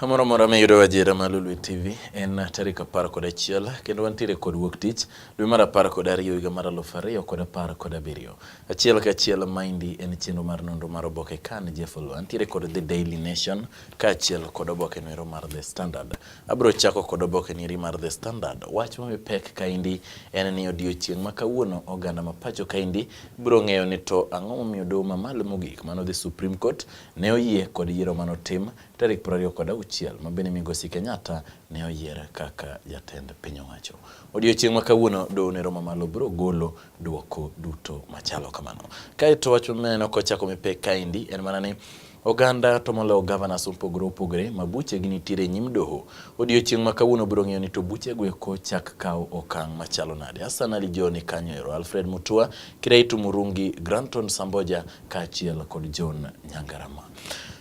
Kamoro amora miyudo adiera ma Lolwe TV en tarik apar kod achiel kendo wantiere kod wuok tich dwe mar apar kod ariyo higa mar aluf ariyo kod apar kod abiriyo. Achiel ka achiel maendi en chenro mar nonro mar oboke kan Jeff Olwa. Antiere kod The Daily Nation kaachiel kod oboke noero mar The Standard. Abiro chako kod oboke nieri mar The Standard. Wach mami pek kaendi en ni odiochieng' ma kawuono oganda ma pacho kaendi biro ng'eyo ni to ang'o momiyo doho mamalo mogik mano The Supreme Court ne oyie kod yiero mane otim tarik piero ariyo kod auchiel ma bende migosi Kenyatta ne oyier kaka jatend piny owacho. Odiochieng' ma kawuono doho ne romo malo biro golo duoko duto machalo kamano. Kaeto wach maneno kochako mi pek kaendi en mana ni Oganda to moloyo governors opogore opogore ma buchegi nitiere e nyim doho. Odiochieng' ma kawuono biro ng'eyo ni to buchego eko chak kawo okang' machalo nade. Hassan Ali Joho ni kanyo ero, Alfred Mutua, Kiraitu Murungi, Granton Samboja, kaachiel kod John Nyangarama.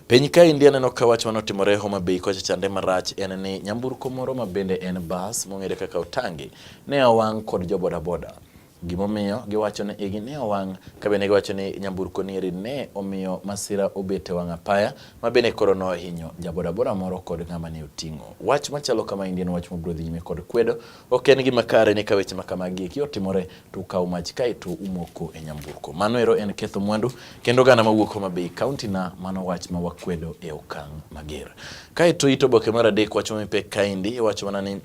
Piny ka India neno ka wach manotimore Homa Bay kocha chande marach en ni nyamburko moro ma bende en bas mong'ere kaka Otangi ne owang' kod jo bodaboda. Gimomiyo giwacho ni igi ne owang' ka bende giwacho ni nyamburko nieri ne omiyo masira obet e wang' apaya ma bende koro nohinyo ja bodaboda moro kod ng'ama ne oting'o. Wach machalo kama India en wach mabiro dhi nyime kod kwedo Ok en gima kare ni ka weche ma kamagi eki otimore to ukawo mach kae to umoko e nyamburko. Mano ero en ketho mwandu kendo gana ma wuok Homa Bay County na mano wach ma wakwedo e okang' mager. Kae to it oboke mar adek wacho mipek kaendi iwacho mana ni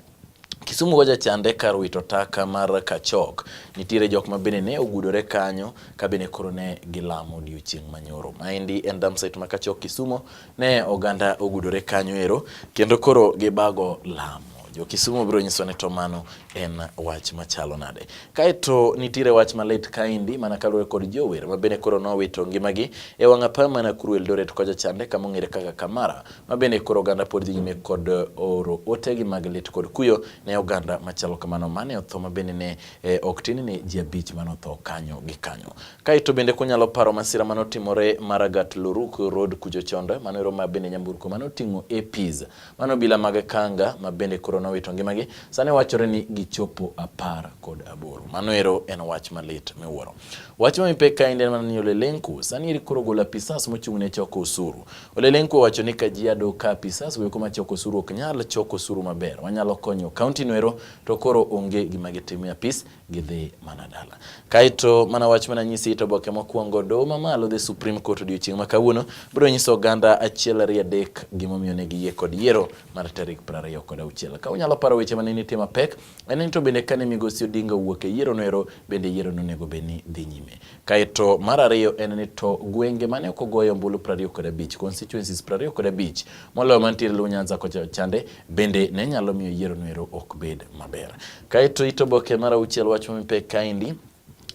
Kisumu go jachande kar wito taka mar Kachok. Nitiere jok ma bende ne ogudore kanyo ka bende koro ne gilamo odiochieng' manyoro. Maendi en dam site ma Kachok Kisumo Ne oganda ogudore kanyo ero kendo koro gibago lam. Jo-Kisumu biro nyiso ni to mano en wach machalo nade. Kaeto nitiere wach malit kaendi mana kaluwore kod jower ma bende koro nowito ngimagi e wang' apaya ma Nakuru Eldoret kocha chande kama ong'ere kaka Kamara ma bende koro oganda pod dhi nyime kod oro otegi mag lit kod kuyo ne oganda machalo kamano mane otho ma bende ne eh, ok tin ni ji abich mane otho kanyo gi kanyo. Kaeto bende kunyalo paro masira mane otimore Maragat Luruk Road kucho chonde, mano ero ma bende nyamburko mane oting'o APs mane obila mag Kanga ma bende koro nowito ngimagi, sani wachore ni gichopo apar kod aboro. Mano ero en wach malit miwuoro. Wach ma mipek kaendi en mana ni Ole Lenku sani eri koro ogolo apisas mochung' ne choko osuru. Ole Lenku owacho ni Kajiado ka apisas goeko ma choko osuru ok nyal choko osuru maber, wanyalo konyo kaunti no ero to koro onge gima gitimo e apis gidhi mana dala. Kaeto mana wach mana nyisi to boke mokwongo doho mamalo the Supreme Court odiochieng' ma kawuono biro nyiso oganda achiel ariyo adek gimomiyo ne giyie kod yiero mar tarik piero ariyo kod auchiel. Ka unyalo paro weche mane nitie mapek, en ni to bende kane migosi Odinga owuok e yiero noero bende yiero nonego bed ni dhi nyime. Kaeto mar ariyo en ni to gwenge mane ok ogoyo ombulu 25 kod abich, constituencies 25 kod abich moloyo mantiere Luo Nyanza kocha chande bende ne nyalo miyo yiero noero ok bed maber. Kaeto ito boke mar auchiel wach mipek kaendi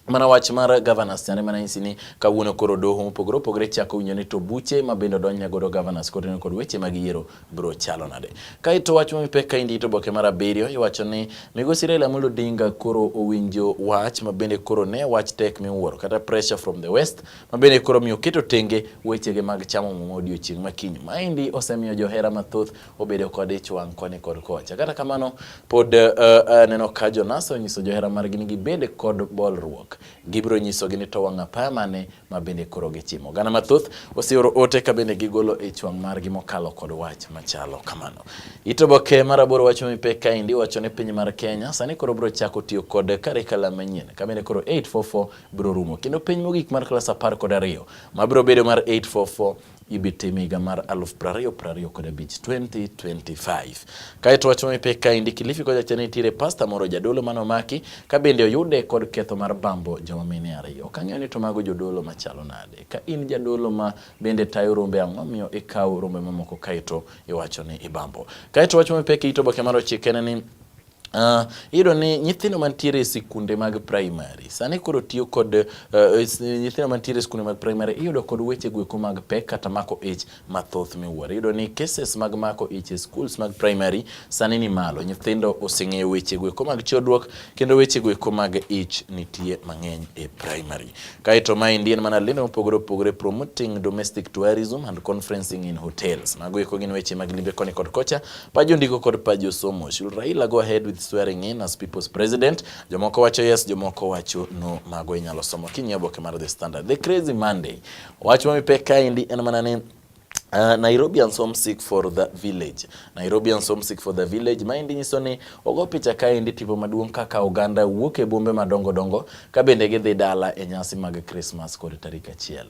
mana wach mar governors chande mana nyisi ni kawuono koro doho mopogore opogore chako winjo ni to buche ma bende odonjne godo governors kod kod weche mag yiero biro chalo nade. Kaeto wach mipek ka indito boke mar abiriyo iwacho ni migosi Raila Amolo Odinga koro owinjo wach mabende koro ne wach tek miwuoro kata pressure from the west mabende koro miyo keto tenge wechege mag chamo muma odiochieng' makiny. Maendi osemiyo johera mathoth obedo kod ich wang' koni kod kocha. Kata kamano pod uh, aneno ka Jonas onyiso johera margi ni gibed kod bolruok. Gibiro nyisogi ni to wang' apaya mane ma bende koro gichimo. Oganda mathoth oseoro ote ka bende gigolo ich wang' margi mokalo kod wach machalo kamano. It oboke mar aboro wacho mipek kaendi wacho ni piny mar Kenya sani koro biro chako tiyo kod karikala manyien ka bende koro 844 biro rumo kendo piny mogik mar klas apar kod ariyo ma biro bedo mar 844 ibi tim higa mar aluf prariyo prariyo kod abich 2025. Kaeto wach mamipe kaendi Kilifi kocha cha nitiere pasta moro jadolo mane omaki ka bende oyude kod ketho mar bambo joma mine ariyo. Ok ang'eyo ni to mago jodolo machalo nade. Ka in jadolo ma bende tayo rombe ang'o miyo ikawo rombe mamoko kaeto iwacho ni ibambo. Kaeto wach mamipe kiito boke mar ochike ne ni Uh, iyudo ni nyithindo mantiere e sikunde mag primary sani koro tiyo kod uh, nyithindo mantiere e sikunde mag primary iyudo kod weche gweko mag pek kata mako ich mathoth miwuoro. Iyudo ni cases mag mako ich e schools mag primary sani ni malo. Nyithindo oseng'eyo weche gweko mag chodruok kendo weche gweko mag ich nitie mang'eny e primary. Kaeto ma indien mana lendo mopogore opogore promoting domestic tourism and conferencing in hotels. Mago eko gin weche mag limbe koni kod kocha Pajo ndiko kod pajo somo. Should Raila go ahead with swearing in as people's president? Jomoko wacho yes, jomoko wacho no. Mago inyalo somo kinyie oboke mar The Standard. The Crazy Monday. Wach ma mipek kaendi en mana ni Uh, Nairobians homesick for the village. Nairobians homesick for the village. Maendi nyiso ni ogo picha kaendi tipo maduong' kaka oganda wuok e bombe madongo dongo ka bende gidhi dala e nyasi mag Christmas kod tarik achiel.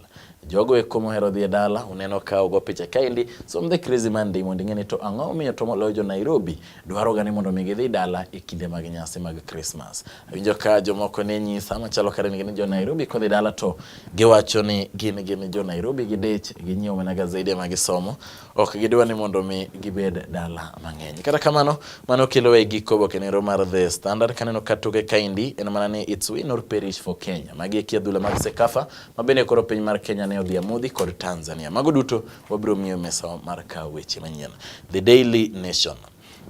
Jogo eko mohero dhi e dala uneno ka ogo picha kaendi som the crazy Monday mondo ing'e ni to ang'o miyo to moloyo jo Nairobi dwaroga ni mondo mi gidhi dala e kinde mag nyasi mag Christmas. Awinjo ka jomoko ne nyisa machalo kare ni jo Nairobi kodhi dala to giwacho ni gin gin jo Nairobi gidich ginyiewo mana gazede ma gisomo ok gidwa ni mondo mi gibed dala mang'eny. Kata kamano mano kelo e giko oboke nero mar The Standard kaneno ka toke kaendi en mana ni it's win or perish for Kenya. Magi e adhula mag Sekafa mabende koro piny mar Kenya ne odhi amodhi kod Tanzania. Mago duto wabiro miyo mesa mar kawo weche manyien. The Daily Nation.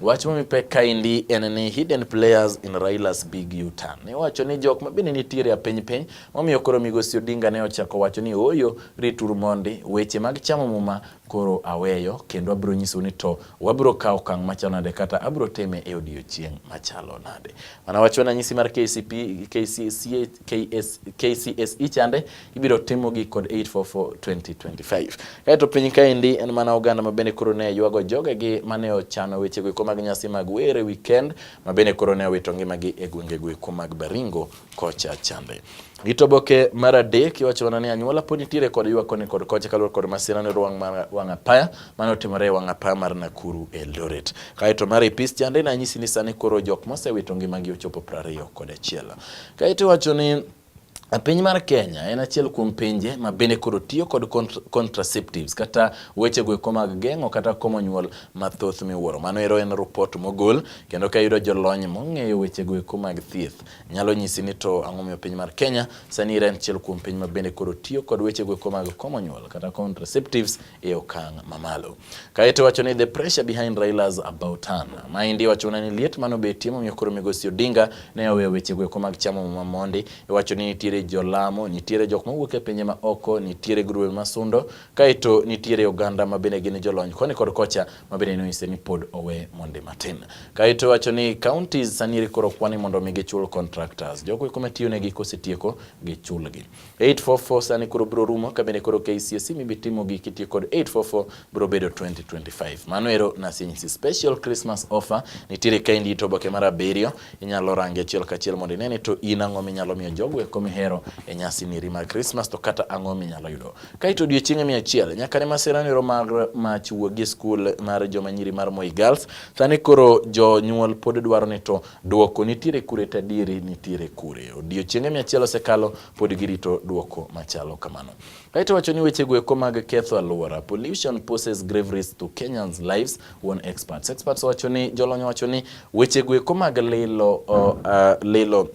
Wach momi pek kaendi en ni hidden players in Raila's big U-turn. Ne wacho ni jok ma bende nitiere a piny piny momiyo koro Migosi Odinga ne ochako wacho ni ooyo rituru mondi weche mag chamo muma Koro aweyo, kendo abiro nyisou ni to wabiro kawo okang' machalo nade kata abiro time e odiechieng' machalo nade. Mana wach wananyisi mar KCP, KCSE, KS, KCSE chande ibiro timogi kod 844-2025. Kaeto piny kaendi en mana oganda ma bende koro ne ywago jogegi ma ne ochano wechego eko mag nyasi mag wer e weekend ma bende koro ne owito ngimagi e gwengego eko mag Baringo kocha chande. Gitoboke mar adek iwacho mana ni anyuola pod nitiere kod ywak koni kod kocha kaluwore kod masira ni ruang' mar wang' apaya mane otimore e wang' apaya mar Nakuru Eldoret. Kaeto mar ipis chande na nyisi ni sani koro jok mosewito ngimagi ochopo 21. kod achiel. Kaeto iwacho ni E piny mar Kenya en achiel kuom pinje ma bende koro tiyo kod contraceptives kata weche goeko mag geng'o kata komo nyuol mathoth miwuoro. Mano ero en rupot mogol kendo ka yudo jolony mong'eyo weche goeko mag thieth. nyalo nyisi ni to ang'o miyo piny mar Kenya sani ira en achiel kuom piny ma bende koro tiyo kod weche goeko mag komo nyuol kata contraceptives e okang' mamalo. Kaeto wacho ni the pressure behind Raila's about turn. Maendi wacho ni liet mano betie momiyo koro Migosi Odinga ne oweyo weche goeko mag chamo muma mondi. Iwacho ni nitiere jolamo, nitiere jok mawuok e pinje ma oko, nitiere grube masundo, kaeto nitiere oganda ma bende gin jolony koni kod kocha mabende nonyise ni pod owe monde matin. Kaeto wacho ni counties sani koro kwani mondo mi gichul contractors. Jogo eko matiyo negi kosetieko gichulgi. 844 sani koro biro rumo kabende koro KCSE mibi timo gi kitiyo kod 844 biro bedo 2025. Mano ero nasinyisi special Christmas offer nitiere ka indi to oboke mar abiriyo inyalo range achiel kachiel mondo inene to in ang'o minyalo miyo jogo eko mihero e nyasi niri mar Christmas to kata ang'o minyalo yudo. Kaito odiochienge mia achiel nyaka ne masira niro mar mach wuogi e skul mar joma nyiri mar Moi Girls. Sani koro jonyuol pod dwaro ni to duoko nitiere kure to adieri nitiere kure. Odiochienge mia achiel osekalo pod girito duoko machalo kamano. Kaito wacho ni weche goeko mag ketho aluora, pollution poses grave risks to Kenyans lives, one experts. Experts wacho ni jolony wacho ni weche goeko mag lilo, uh, uh, lilo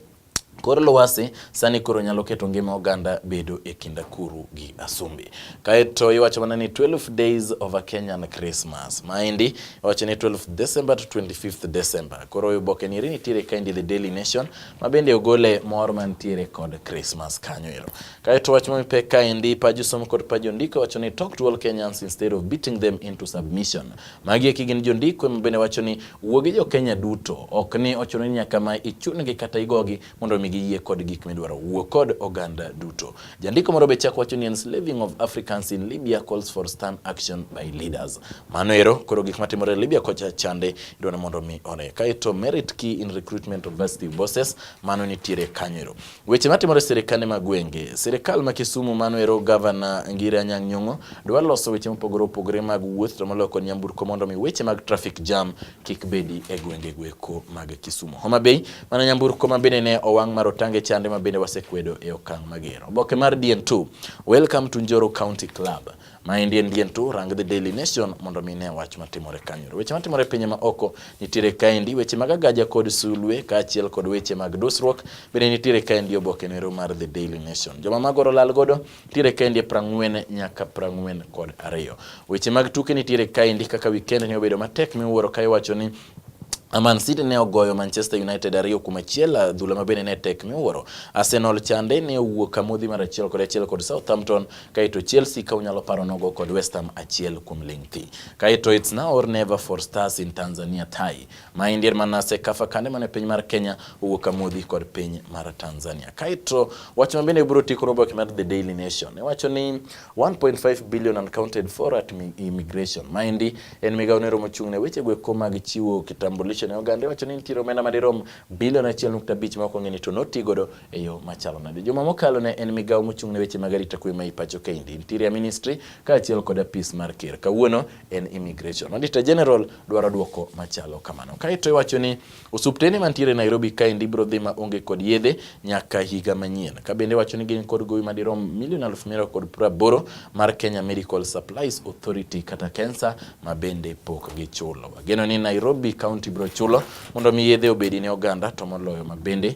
Kor lwasi sani koro nyalo keto ngima oganda bedo e kind akuru gi asumbi. Kaeto iwacho mana ni 12 days of a Kenyan Christmas. Maendi iwacho ni 12 December to 25th December. Koro oboke ni nitiere kaendi The Daily Nation ma bende ogole mor mantiere kod Christmas kanyo ero. Kaeto wach ma mipek kaendi paju somo kod paju ndiko wacho ni talk to all Kenyans instead of beating them into submission. Magi eki gin jondiko ma bende wacho ni wuo gi jo-Kenya duto, ok ni ochuno ni nyaka ma ichungi kata igogi mondo omi giyie kod gik midwaro. Wuo kod oganda duto. Jandiko moro be chako wacho ni enslaving of Africans in Libya calls for stern action by leaders. Mano ero koro gik matimore Libya kocha chande idwa ni mondo omi one. Kaeto merit key in recruitment of varsity bosses, mano nitiere kanyo ero. Weche matimore sirikande ma gwenge. Sirikal ma Kisumu mano ero gavana Ngire Anyang' Nyong'o dwa loso weche mopogore opogore mag wuoth to moloyo kod nyamburko mondo mi weche mag traffic jam kik bedi e gwenge gweko mag Kisumu. Homa Bay mana nyamburko ma bende ne owang' mar otange chande ma bende wasekwedo e okang' mager. Oboke mar DN2. Welcome to Njoro County Club. Ma endi en dien tu rang The Daily Nation mondo mi ne wach matimore kanyo. Weche matimore e pinje ma oko nitiere kaendi, weche mag agaja kod sulwe kaachiel kod weche mag dusruok bende nitiere kaendi oboke nero mar The Daily Nation. Joma magoro lal godo nitiere kaendi e prang'wen nyaka prang'wen kod ariyo. Weche mag tuke nitiere kaendi kaka weekend ne obedo matek miwuoro ka iwacho ni Man City ne ogoyo Manchester United ariyo kuom achiel, adhula ma bende ne tek miwuoro. Arsenal chande ne owuok kamodhi mar achiel kod achiel kod Southampton Kaito Chelsea ka unyalo paro nogo kod West Ham achiel kuom ling thi. Kaito it's now or never for stars in Tanzania tie. Ma indir manase kafa kande mane piny mar Kenya owuok kamodhi kod piny mar Tanzania. Kaito wach ma bende biro tikoro oboke mar The Daily Nation. Ne wacho ni 1.5 billion uncounted for at immigration. Ma indi en migawo ne romo chung' ne weche gweko mag chiwo kitambulisho ne oganda. Wacho ni nitiere omenda madirom bilion 1.5 ma ok ong'e ni to notigodo e yo machalo nade. Juma mokalo ne en migawo mochung' ne weche mag arita kwe ma ipacho kaendi, Interior Ministry kaachiel kod apis mar ker. Kawuono en Immigration. Auditor General dwaro dwoko machalo kamano. Kaeto iwacho ni osuptende mantiere Nairobi kaendi biro dhi ma onge kod yedhe nyaka higa manyien. Ka bende iwacho ni gin kod gowi madirom milion aluf miriyo kod praboro mar Kenya Medical Supplies Authority kata KEMSA ma bende pok gichulo. Wageno ni Nairobi County biro chulo mondo mi yedhe obedi ne oganda to moloyo ma bende